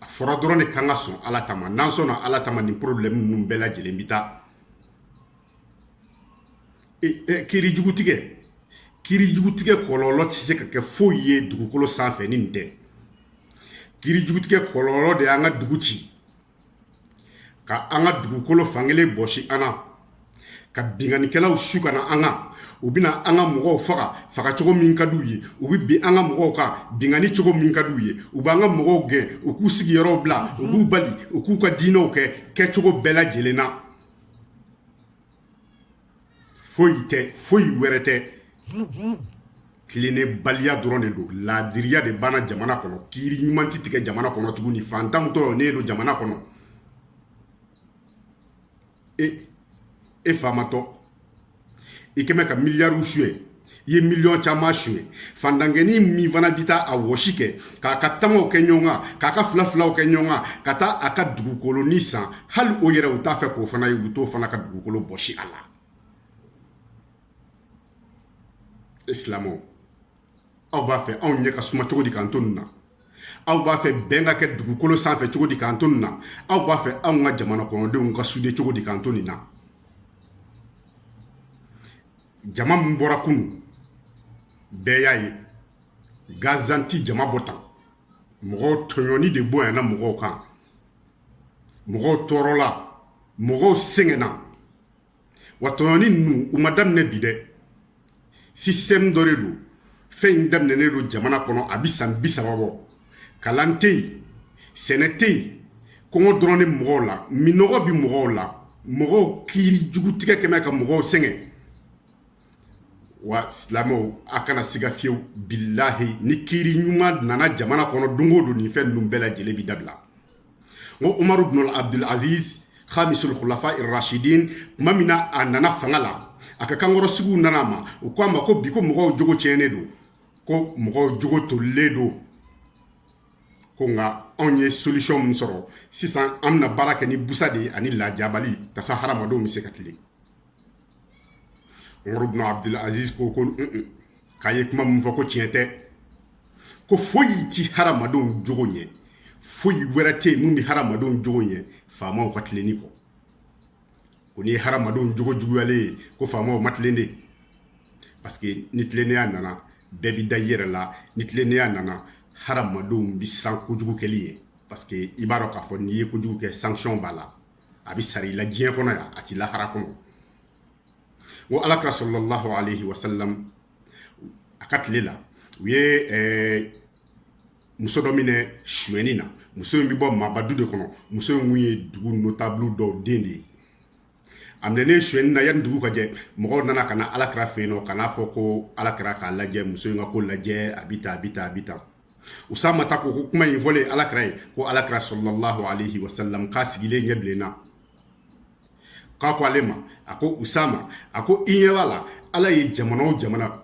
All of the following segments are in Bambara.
a fɔra dɔrɔn de k'an ka sɔn ala ta ma n'an sɔnna ala ta ma nin porobilɛmu ninnu bɛɛ lajɛlen bi taa e, e, kiri jugu tigɛ kiri jugu tigɛ kɔlɔlɔ tɛ se ka kɛ foyi ye dugukolo sanfɛ ni nin tɛ kiri jugu tigɛ kɔlɔlɔ de y'an ka dugu ci ka an ka dugukolo fankelen bɔsi an na ka binkannikɛlaw su ka na an kan u bɛna an ka mɔgɔw faga faga cogo min ka d'u ye u bɛ bin an ka mɔgɔw kan binkanni cogo min ka d'u ye u b'an ka mɔgɔw gɛn u k'u sigiyɔrɔw bila u b'u bali u k'u ka diinɛw kɛ kɛcogo bɛɛ lajɛlen na foyi tɛ foyi wɛrɛ tɛ tilennebaliya dɔrɔn de don laadiriya de banna jamana kɔnɔ kiiri ɲuman tɛ tigɛ jamana kɔnɔ tuguni fantanw tɔɲɔnen don jamana kɔnɔ e e faamatɔ i kɛlen bɛ ka miliyariw suɲɛ i ye miliyɔn caman suɲɛ fantankɛnin min fana bɛ taa a wɔsi kɛ k'a ka tamaw kɛ ɲɔgɔn kan k'a ka fila filaw kɛ ɲɔgɔn kan ka taa a ka dugukolonin san hali o yɛrɛ u t'a fɛ k'o fana ye u t'o fana ka dugukolo bɔsi a la e silamɛw aw b'a fɛ anw ɲɛ ka suma cogo di k'an to nin na aw b'a fɛ bɛn ka kɛ dugukolo sanfɛ cogo di k'an to nin na aw b'a fɛ anw ka jamana kɔnɔdenw ka sude cogo di k'an to nin na jama min bɔra kunu bɛɛ y'a ye gansan ti jama bɔ tan mɔgɔw tɔɲɔni de bonyana mɔgɔw kan mɔgɔw tɔɔrɔla mɔgɔw sɛgɛnna wa tɔɲɔni ninnu u ma daminɛ bi dɛ sistɛmu dɔ de don fɛn in daminɛnen don jamana kɔnɔ a bi san bi saba bɔ kalan tɛ yen sɛnɛ tɛ yen kɔngɔ dɔrɔn de mɔgɔw la minnɔgɔ bɛ mɔgɔw la mɔgɔw kiiri jugu tigɛ kɛlen bɛ ka mɔgɔw sɛgɛn wa silamɛw a kana siga fiyewu bilahi ni kiiri ɲuman nana jamana kɔnɔ don o don nin fɛn ninnu bɛɛ lajɛlen bɛ dabila n ko umaru bin abdul aziz khamisul khulafa irashidin tuma min na a nana fanga la a ka kankɔrɔsigiw nana a ma u ko a ma ko bi ko mɔgɔw jogo tiɲɛnen don ko mɔgɔw jogo tolilen don ko nka anw ye solution min sɔrɔ sisan an bɛna baara kɛ ni busa de ye ani lajabali yaasa hadamadenw bɛ se ka tilen umaru bin abdul aziz ko ko k'a ye kuma min fɔ ko tiɲɛ tɛ ko foyi ti hadamadenw jogo ɲɛ foyi wɛrɛ tɛ yen min bɛ hadamadenw jogo ɲɛ faamaw ka tilenni kɔ ko ni hadamadenw jogo juguyalen ye ko faamaw ma tilen de parce que ni tilennenya nana bɛɛ bi da i yɛrɛ la ni tilennenya nana hadamadenw bi siran kojugu kɛli ɲɛ parce que i b'a dɔn k'a fɔ n'i ye kojugu kɛ sanction b'a la a bi sara i la diɲɛ kɔnɔ yan a ti lahara kɔnɔ ko ala kira sallallahu alayhi wa sallam a ka tile la u ye ɛɛ muso dɔ minɛ suyɛnni na muso in bɛ bɔ maaba du de kɔnɔ muso in kun ye dugu notabulu dɔw den de ye a minɛnen suyɛnni na yanni dugu ka jɛ mɔgɔw nana ka na ala kira fɛ yen nɔ ka n'a fɔ ko ala kira k'a lajɛ muso in ka ko lajɛ a bɛ taa a bɛ taa a bɛ taa usama ta ko ko kuma in fɔlen ala kira ye ko ala kira sallalahu alayhi wa sallam k'a sigilen ɲɛ bilenna k'a ko ale ma a ko usama a ko i ɲɛ b'a la ala ye jamana o jamana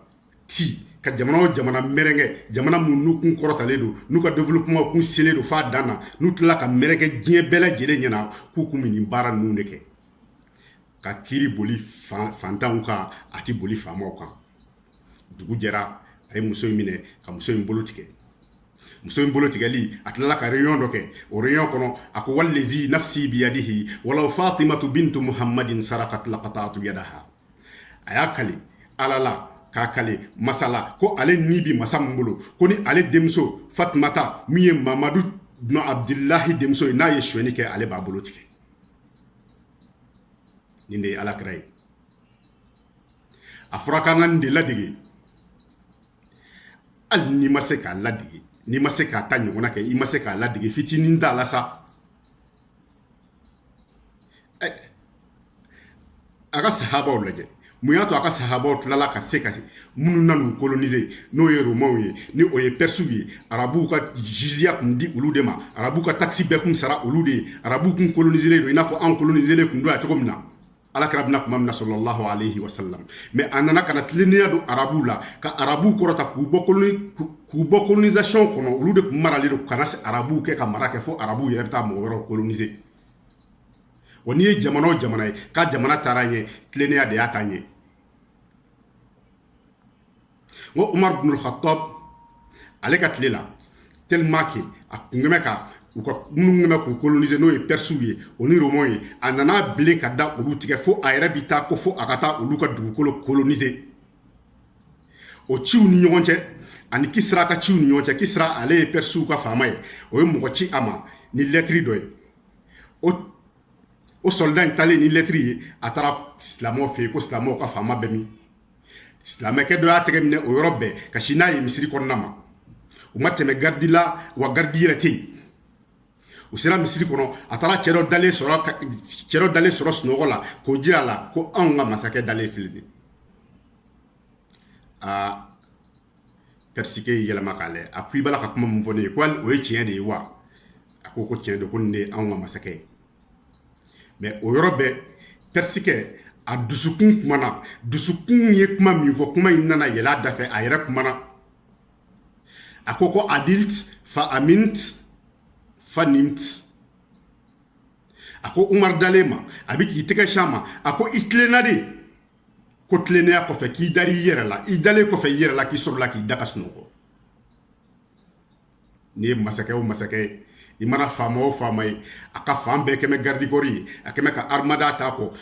ci ka jamana o jamana mɛrɛkɛ jamana minnu kun kɔrɔtalen don n'u ka développement kun selen don f'a dan na n'u tilala ka mɛrɛkɛ diɲɛ bɛɛ lajɛlen ɲɛna k'u kun bɛ nin baara ninnu de kɛ ka kiri boli fantanw kan a ti boli faamaw kan dugu jɛra a ye muso in minɛ ka muso in bolo tigɛ muso in bolo tigɛli a tilala ka réunion dɔ kɛ o réunion kɔnɔ a ko walezi nafsi biyadihi walaw fatimatu bintu muhammadin sarakat la kataatu yadaha a y'a kali ala la k'a kali masa la ko ale ni bi masa min bolo ko ni ale denmuso fatumata min ye mamadu bunu abdulahi denmuso ye n'a ye suɲɛni kɛ ale b'a bolo tigɛ nin de ye ala kira ye a fɔra k'an ka nin de ladege hali n'i ma se k'a ladege n'i ma se k'a ta ɲɔgɔnna kɛ i ma se k'a ladege fitinin t'a la sa eh, a ka sahabaw lajɛ mun y'a to a ka sahabaw tilala ka se ka minnu nan'u kolonize n'o ye romaw ye ni o ye persiw ye arabuw ka jiziya kun di olu de ma arabuw ka takisi bɛɛ kun sara olu de ye arabuw kun kolonizelen don i n'a fɔ anw kolonizelen kun don yan cogo min na ala kira bɛ na kuma min na sallalahu alayhi wa sallam mais a nana ka na tilennenya don arabuw la ka arabuw kɔrɔta k'u bɔ k'u bɔ colonisation kɔnɔ olu de tun maralen don ka na se arabuw kɛ ka mara kɛ fo arabuw yɛrɛ bɛ taa mɔgɔ wɛrɛw coloniser wa n'i ye jamana o jamana ye k'a jamana taara ɲɛ tilennenya de y'a taa ɲɛ n ko umar bin khattab ale ka tile la tellement que a kun kɛmɛ ka u ka minnu kɛmɛ k'u kolonize n'o ye persiw ye o ni romaw ye a nana bilen ka da olu tigɛ fo a yɛrɛ bi taa ko fo a ka taa olu ka dugukolo kolonize o ciw ni ɲɔgɔn cɛ ani kisira ka ciw ni ɲɔgɔn cɛ kisira ale ye persiw ka faama ye o ye mɔgɔ ci a ma ni lɛtiri dɔ ye o o sɔlida in talen ni lɛtiri ye a taara silamɛw fɛ yen ko silamɛw ka faama bɛ min silamɛkɛ dɔ y'a tɛgɛ minɛ o yɔrɔ bɛɛ ka sin n'a ye misiri kɔnɔna ma u ma tɛmɛ garidi la wa garidi yɛrɛ tɛ yen u sera misiri kɔnɔ a taara cɛ dɔ dalen sɔrɔ cɛ dɔ dalen sɔrɔ sunɔgɔ la k'o jira a la ko anw ka masakɛ dalen filɛ de aa pɛrisikɛ y'i yɛlɛma k'a lajɛ a ko i b'a la ka kuma min fɔ ne ye ko hali o ye tiɲɛ de ye wa a ko ko tiɲɛ don ko nin de ye anw ka masakɛ ye mɛ o yɔrɔ bɛɛ pɛrisikɛ a dusukun kumana dusukun ye kuma min fɔ kuma in nana yɛlɛ a da fɛ a yɛrɛ kumana a ko ko adilt fa amint fa nimt a ko umar dalen ma a bɛ k'i tɛgɛ sin a ma a ko i tilenna de ko tilennenya kɔfɛ k'i dara i yɛrɛ la i dalen kɔfɛ i yɛrɛ la k'i sɔrɔla k'i da ka sunɔgɔ n'i ye masakɛ o masakɛ ye i mana faama o faama ye a ka fan bɛɛ kɛmɛ garidikɔri ye a kɛmɛ ka arimada t'a kɔ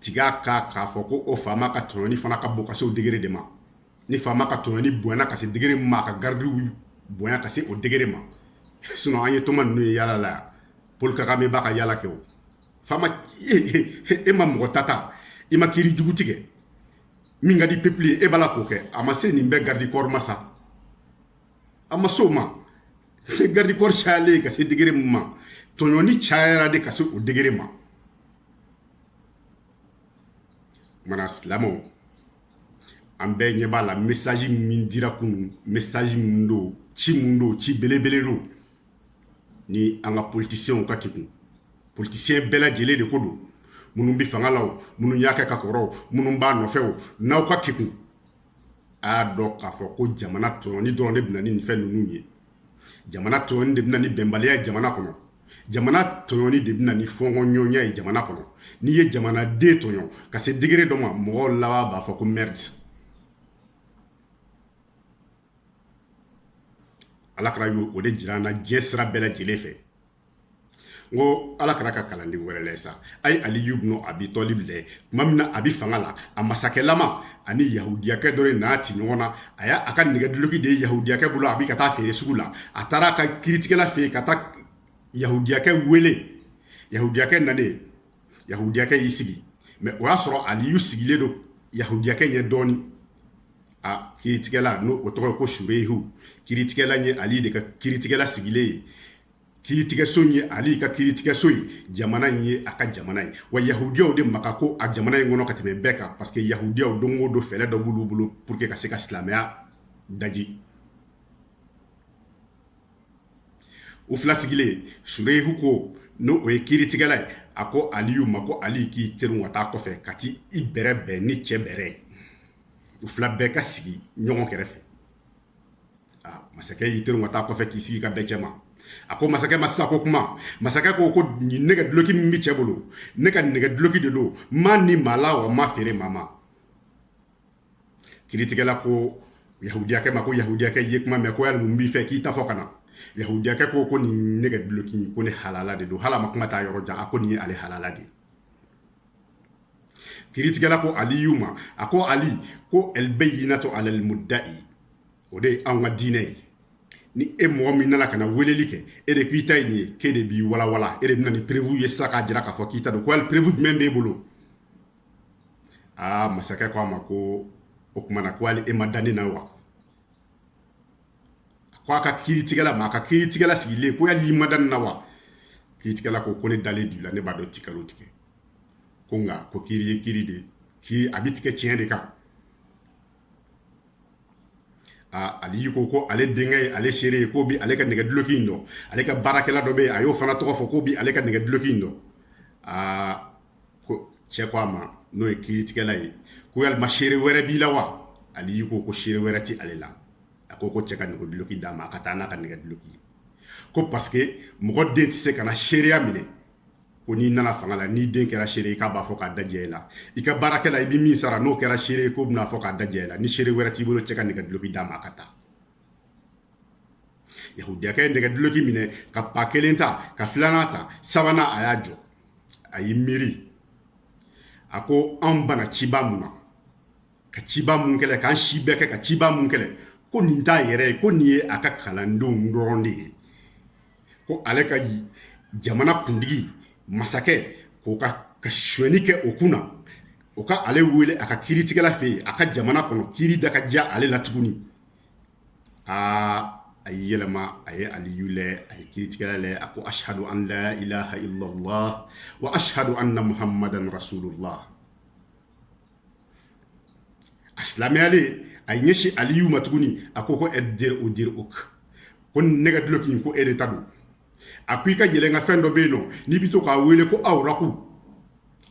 tig'a kan k'a fɔ ko o faama ka tɔɲɔni fana ka bon ka se o degere de ma ni faama ka tɔɲɔni bonyana ka se degere min ma a ka garidiw bonya ka se o degere ma sinɔn an ye toma ninnu ye yaala la yan pol kagame b'a ka yaala kɛ o faama e ma mɔgɔ ta ta i ma kiri jugu tigɛ min ka di pepili ye e b'a la k'o kɛ a ma se nin bɛɛ garidikɔri ma sa a ma se o ma sa garidikɔri cayalen ka se degere min ma tɔɲɔni cayara de ka se o degere ma mana silamɛw an bɛɛ ɲɛ b'a la mesaji min dira kunun mesaji min don ci min don ci belebele don ni an ka politisiyɛnw ka kegun politisiyɛn bɛɛ lajɛlen de ko don minnu bɛ fanga la o minnu y'a kɛ ka kɔrɔ o minnu b'a nɔfɛ o n'aw ka kegun a y'a dɔn k'a fɔ ko jamana tɔɲɔni dɔrɔn de bɛna ni nin fɛn ninnu ye jamana tɔɲɔni de bɛna ni bɛnbaliya ye jamana kɔnɔ jamana tɔɲɔni de bɛna ni fɔnkɔnɲɔgɔnya ye jamana kɔnɔ n'i ye jamanaden tɔɲɔ ka se degere dɔ ma mɔgɔw laban b'a fɔ ko merde ala kira y'o de jira an na diɲɛ sira bɛɛ lajɛlen fɛ n ko ala kira ka kalanden wɛrɛ lɛ sa a ye aliyu bnu abi tɔlib lɛ tuma min na a bi fanga la a masakɛlama a ni yahudiyakɛ dɔ de n'a ti ɲɔgɔn na a y'a ka nɛgɛduloki de ye yahudiyakɛ bolo a bi ka taa feere sugu la a taara a ka kiritigɛla fɛ yen ka taa yahudiyakɛ wele yahudiyakɛ nanen yahudiyakɛ y'i sigi mɛ o y'a sɔrɔ aliyu sigilen don yahudiyakɛ ɲɛ dɔɔni a kiritigɛla n'o o tɔgɔ ye ko sureyihu kiritigɛla ye ali de ka kiritigɛla sigilen ye kiiritigɛso in ye ali ka kiiritigɛso ye jamana in ye a ka jamana ye wa yahudiyaw de ma ka ko a jamana in kɔnɔ ka tɛmɛ bɛɛ kan parce que yahudiyaw don o don fɛɛrɛ dɔ b'olu bolo pour que ka se ka silamɛya daji u fila sigilen sureyihu ko n'o o ye kiiritigɛla ye a ko aliyu ma ko ali k'i terin ka taa kɔfɛ ka t'i bɛrɛ bɛn ni cɛ bɛrɛ ye u fila bɛɛ ka sigi ɲɔgɔn kɛrɛfɛ masakɛ y'i to ka taa kɔfɛ k'i sigi ka bɛn cɛ ma a ko masakɛ ma sisan ko kuma masakɛ ko ko nin nɛgɛ duloki min bɛ cɛ bolo ne ka nɛgɛ duloki de don n m'a ni maa la wa n m'a feere maa ma kiritigɛla ko yahudiyakɛ ma ko yahudiyakɛ ye kuma mɛn ko yali mun b'i fɛ k'i ta fɔ ka na yahudiyakɛ ko ko nin nɛgɛ duloki ko ne halala de don hali a ma kuma taa yɔrɔ jan a ko nin ye ale halala de ye kiritigɛla ko aliyu ma a ko ali ko albayinatu ala almudda'i o de ye anw ka diinɛ ye ni e mɔgɔ min nana ka na weleli kɛ e de k'i ta ye nin ye k'e de b'i walawala e de bɛna ni perewu ye sisan k'a jira k'a fɔ k'i ta don ko ali perewu jumɛn b'e bolo aa masakɛ ko a ma ko o tuma na ko hali e ma da ne na wa ko a ka kiiritigɛla ma a ka kiiritigɛla sigilen ko yali i ma da ne na wa kiiritigɛla ko ko ne dalen don i la ne b'a dɔn i tɛ nkalon tigɛ ko nka ko kiiri ye kiiri de kiiri a bɛ tigɛ tiɲɛ de kan ali ko ko ale denkɛ ye ale seere ye k'o bi ale ka nɛgɛ duloki in dɔn ale ka baarakɛla dɔ bɛ yen a y'o fana tɔgɔ fɔ k'o bi ale ka nɛgɛ duloki in dɔn aa ko cɛ ko a ma n'o ye kiiritigɛla ye ko yalima seere wɛrɛ b'i la wa aliyu ko ko seere wɛrɛ ti ale la a ko ko cɛ ka nɛgɛ duloki d'a ma a ka taa n'a ka nɛgɛ duloki ye ko paseke mɔgɔ den tɛ se ka na seereya minɛ ko n'i nana fanga la n'i den kɛra seere ye k'a b'a fɔ k'a da diya i la i ka baarakɛla i bɛ min sara n'o kɛra seere ye k'o bɛn'a fɔ k'a da diya i la ni seere wɛrɛ t'i bolo cɛ ka nɛgɛ duloki d'a ma a ka taa yahudiyakɛ ye nɛgɛ duloki minɛ ka pa kelen ta ka filanan ta sabanan a y'a jɔ a y'i miiri a ko anw banna cɛba min na ka cɛba min kɛlɛ k'an si bɛɛ kɛ ka cɛba min kɛlɛ ko nin t'a yɛrɛ ye ko nin ye a ka kalandenw dɔrɔn de ye ko ale ka jamana kuntigi masakɛ k'o ka sonyɛni kɛ o kun na o ka ale wele a ka kiritigɛla fɛ yen a ka jamana kɔnɔ kiri da ka diya ale la tuguni aa a y'i yɛlɛma a ye aliyu lɛ a ye kiritigɛla lɛ a ko ashadu an la ilaha illallah wa ashadu anna muhammadan rasulullah a silamɛyalen a y'i ɲɛsin aliyu ma tuguni a ko ko addir'u dir'uk ko nɛgɛ duloki ko e de ta don a ko i ka yɛlɛnkanfɛn dɔ bɛ yen nɔ n'i bɛ to k'a wele ko awuraku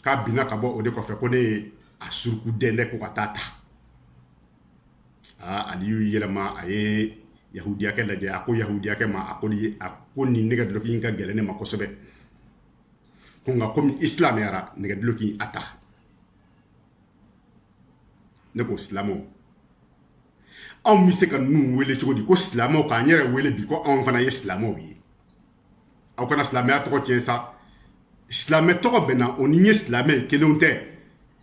k'a binna ka bɔ o de kɔfɛ ko ne ye a suruku dɛndɛ ko ka taa a ta aa ali y'i yɛlɛma a ye yahudiyakɛ lajɛ a ko yahudiyakɛ ma a ko a ko nin nɛgɛ dulɔki in ka gɛlɛn ne ma kosɛbɛ ko nka komi i silamɛyara nɛgɛ dulɔki a ta ne ko silamɛw anw bɛ se ka ninnu wele cogo di ko silamɛw k'an yɛrɛ wele bi ko anw fana ye silamɛw ye aw kana silamɛya tɔgɔ tiɲɛ sa silamɛ tɔgɔ b'an na o n'i ye silamɛ kelenw tɛ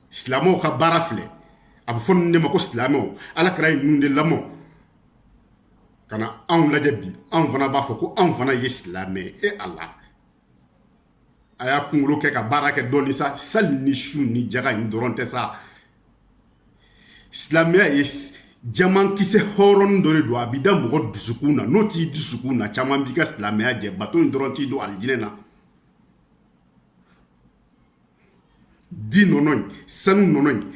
silamɛw ka baara filɛ a bɛ fɔ ninnu de ma ko silamɛw ala kira ye ninnu de lamɔ ka na anw lajɛ bi anw fana b'a fɔ ko anw fana ye silamɛ e ala a y'a kunkolo kɛ ka baara kɛ dɔɔni sa sali ni sun ni jaga in dɔrɔn tɛ sa silamɛya ye jamankisɛ hɔrɔn dɔ de don a bɛ da mɔgɔ dusukun na n'o t'i dusukun na caman b'i ka silamɛya jɛ bato in dɔrɔn t'i don alijinɛ na di nɔnɔ in sanu nɔnɔ in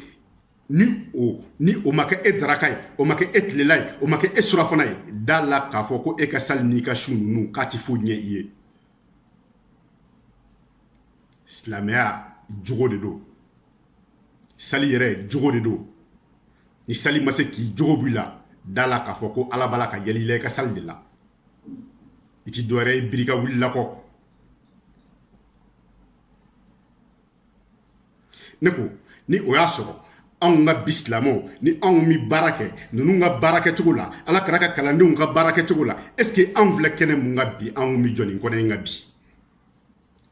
ni o ni o ma kɛ e daraka ye o ma kɛ e tilela ye o ma kɛ e surafana ye da la k'a fɔ ko e ka sali n'i ka sun ninnu k'a ti foyi ɲɛ i ye silamɛya jogo de don sali yɛrɛ jogo de don ni sali ma se k'i jogo b'i la da la k'a fɔ ko ala b'a la ka yɛlɛ i la i ka sali de la i ti dɔwɛrɛ ye biri ka wulila kɔ ne ko ni o y'a sɔrɔ anw ka bi silamɛw ni anw bɛ baara kɛ ninnu ka baara kɛcogo la ala kira ka kalandenw ka baara kɛcogo la est ce que anw filɛ kɛnɛ min kan bi anw bɛ jɔ nin kɛnɛ in kan bi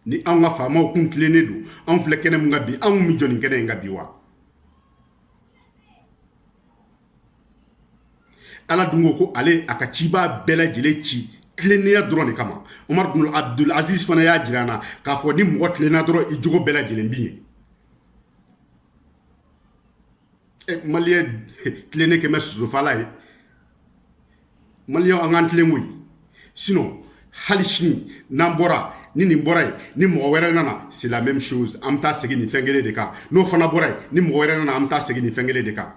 ni an ka faamaw kun tilennen don an filɛ kɛnɛ min kan bi anw bɛ jɔ nin kɛnɛ in kan bi wa ala dun ko ko ale y'a ka cibaa bɛɛ lajɛlen ci tilennenya dɔrɔn de kama umar bin abdul aziz fana y'a jira an na k'a fɔ ni mɔgɔ tilenna dɔrɔn i jogo bɛɛ lajɛlen bi ɲɛ maliyɛn tilennen kɛmɛ sosofala ye maliyɛnw an k'an tilen koyi sinɔn hali sini n'an bɔra ni nin bɔra yen ni mɔgɔ wɛrɛ nana c'est la même chose an bɛ taa segin nin fɛn kelen de kan n'o fana bɔra yen ni mɔgɔ wɛrɛ nana an bɛ taa segin nin fɛn kelen de kan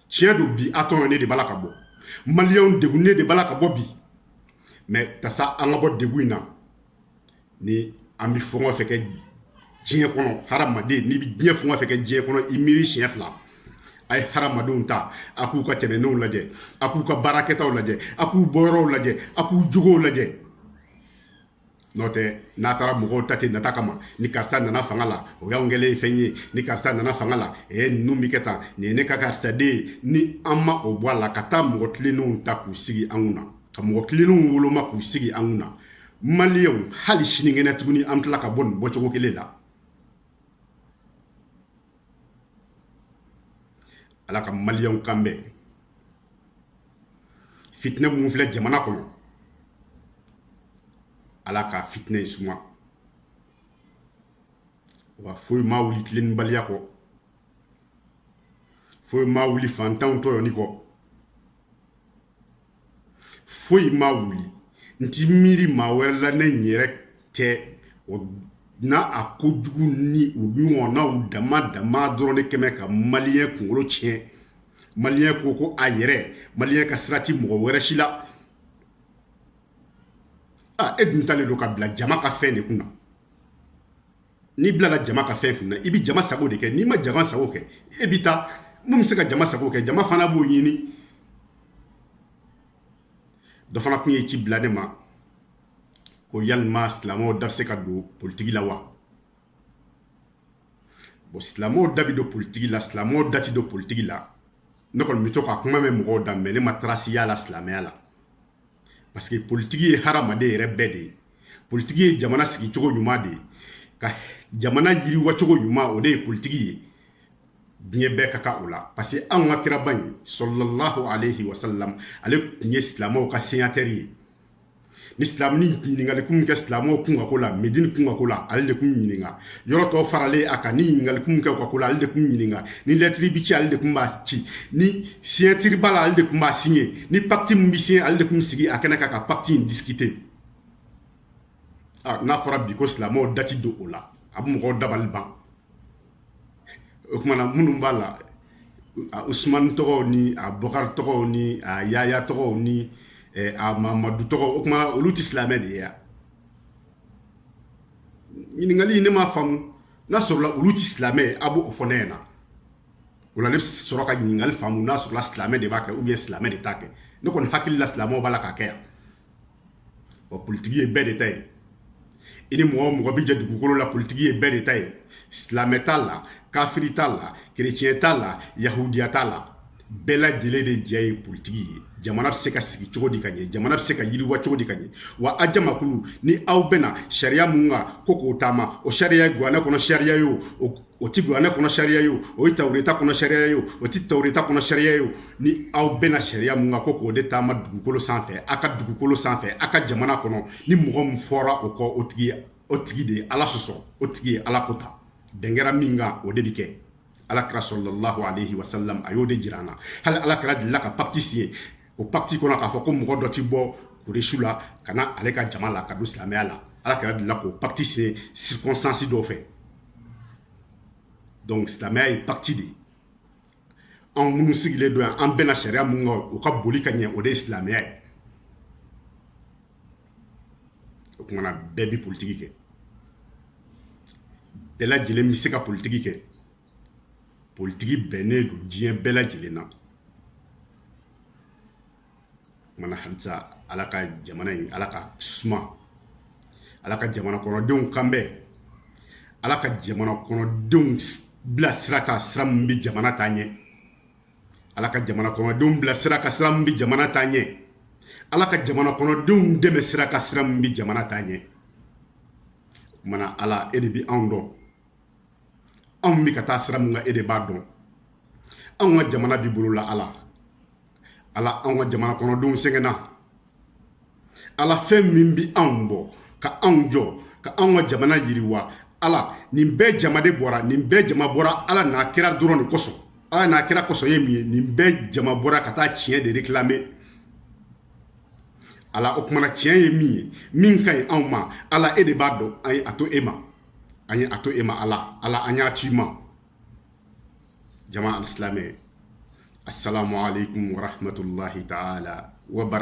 tiɲɛ don bi an tɔɲɔnen de b'a la ka bɔ maliyɛnw degunnen de b'a la ka bɔ bi mɛ yaasa an ka bɔ degun in na ni an bɛ fɛn o fɛn kɛ diɲɛ kɔnɔ hadamaden n'i bɛ diɲɛ fɛn o fɛn kɛ diɲɛ kɔnɔ i miiri siɲɛ fila a ye hadamadenw ta a k'u ka tɛmɛnenw lajɛ a k'u ka baara kɛtaw lajɛ a k'u bɔyɔrɔw lajɛ a k'u jogow lajɛ n'o tɛ n'a taara mɔgɔw ta ten nata kama ni karisa nana fanga la o y'anw kɛlen ye fɛn ye ni karisa nana fanga la ee ninnu bɛ kɛ tan nin ye ne ka karisa den ye ni an ma o bɔ a la ka taa mɔgɔ tilennenw ta k'u sigi an kun na ka mɔgɔ tilennenw woloma k'u sigi an kun na maliyɛnw hali sinikɛnɛ tuguni an tila ka bɔ nin bɔcogo kelen la ala ka maliyɛnw kan bɛn fitinɛ minnu filɛ jamana kɔnɔ ala ka fitinɛ in suma wa foyi ma wuli tilennibaliya kɔ foyi ma wuli fantanw tɔɲɔni kɔ foyi ma wuli n ti miiri maa wɛrɛ la ne n yɛrɛ tɛ o na a ko jugu ni u ɲɔgɔnnaw dama dama dɔrɔn de kɛmɛ ka maliyɛn kunkolo tiɲɛ maliyɛn ko ko a yɛrɛ maliyɛn ka sira ti mɔgɔ wɛrɛ si la a e dun talen don ka bila jama ka fɛn de kunna n'i bilala jama ka fɛn kunna i bɛ jama sago de kɛ n'i ma jama sago kɛ e bɛ taa min bɛ se ka jama sago kɛ jama fana b'o ɲini dɔ fana tun ye ci bila ne ma ko yalima silamɛw da bɛ se ka don politiki la wa bon silamɛw da bɛ don politiki la silamɛw da tɛ don politiki la ne kɔni bɛ to ka kuma mɛn mɔgɔw da mais ne ma tarasi y'a la silamɛya la parce que politiki ye hadamaden yɛrɛ bɛɛ de ye politiki ye jamana sigi cogo ɲuman de ye ka jamana yiriwa cogo ɲuman o de ye politiki ye diɲɛ bɛɛ ka kan o la parce que anw ka kiraba in sɔlɔlahu alayhi wa sallam ale tun ye silamɛw ka senyatɛri ye ni silamɛ ni ɲininkali kun bi kɛ silamɛw kunkanko la medini kunkanko la ale de kun bi ɲininka yɔrɔ tɔw faralen a kan ni ɲininkali kun bi kɛ u ka ko la ale de kun bi ɲininka ni lɛtiri bi ci ale de kun b'a ci ni siɲatiri b'a la ale de kun b'a siɲɛ ni pakiti min bi siɲɛ ale de kun bi sigi a kɛnɛ kan ka pakiti in disikite ah, n'a fɔra bi ko silamɛw da ti don o la a bɛ mɔgɔw dabali ban o kuma na minnu b'a la usumani tɔgɔw ni a bɔkari tɔgɔw ni a yaya tɔgɔw ni eh, a mamadu tɔgɔw o kuma olu tɛ silamɛ de ye ya ɲininkali ne m'a faamu n'a sɔrɔla olu ti silamɛ a b'o fɔ ne ɲɛna o la ne bɛ sɔrɔ ka ɲininkali faamu n'a sɔrɔla silamɛ de b'a kɛ ou bien silamɛ de t'a kɛ ne kɔni hakili la silamɛw b'a la k'a kɛ yan wa politiki ye bɛɛ de ta ye i ni mɔgɔ o mɔgɔ bɛ jɛ dugukolo la politiki ye bɛɛ de ta ye silamɛ t'a la kafiri t'a la kereciyɛn t'a la yahudiya t'a la bɛɛ lajɛlen de jɛ ye politiki ye jamana bɛ se ka sigi cogo di ka ɲɛ jamana bɛ se ka yiriwa cogo di ka ɲɛ wa a jamakulu ni aw bɛnna sariya min kan ko k'o taama o sariya ye kuranɛ kɔnɔ sariya ye o o ti kuranɛ kɔnɔ sariya ye o ye tawureta kɔnɔ sariya ye o ti tawureta kɔnɔ sariya ye ni aw bɛnna sariya min kan ko k'o de taama dugukolo sanfɛ a ka dugukolo sanfɛ a ka jamana kɔnɔ ni mɔgɔ min fɔra o kɔ o tigi o tigi de ye ala sɔsɔ o tigi ye ala ko ta bɛn kɛra min kan o de bi kɛ ala kira sɔlɔlahu alayhi wa sallam a y'o de jira an na hali ala kira delila ka pakiti siɲɛ o pakiti kɔnɔ k'a fɔ ko mɔgɔ dɔ ti bɔ kuresu la ka na ale ka jama la ka don silamɛya la ala kira delila k'o pakiti siɲɛ circonstance dɔw fɛ donc silamɛya ye pakiti de ye anw minnu sigilen don yan an bɛnna sariya min kan o ka boli ka ɲɛ o de ye silamɛya ye o kuma na bɛɛ bi politiki kɛ bɛɛ lajɛlen bɛ se ka politiki kɛ politiki bɛnnen don diɲɛ bɛɛ lajɛlen na kuma na halisa ala ka jamana in ala k'a suma ala ka jamana kɔnɔdenw kan bɛn ala ka jamana kɔnɔdenw bila sira kan sira min bɛ jamana taa ɲɛ ala ka jamana kɔnɔdenw bila sira kan sira min bɛ jamana taa ɲɛ ala ka jamana kɔnɔdenw dɛmɛ sira kan sira min bɛ jamana taa ɲɛ kuma na ala e de bɛ anw dɔn anw bɛ ka taa sira min kan e de b'a dɔn anw ka jamana b'i bolo la ala ala anw ka jamana kɔnɔdenw sɛgɛnna ala fɛn min bi anw bɔ ka anw jɔ ka anw ka jamana yiriwa ala nin bɛɛ jama de bɔra nin bɛɛ jama bɔra ala n'a kira dɔrɔn de kosɔn ala n'a kira kosɔn ye min ye nin bɛɛ jama bɔra ka taa tiɲɛ de réclamer ala o kuma na tiɲɛ ye min ye min ka ɲi anw ma ala e de b'a dɔn an ye a to e ma an ye a to e ma ala ala an y'a to i ma jama alisilame assalamu alaikum warahmatullahi taala wa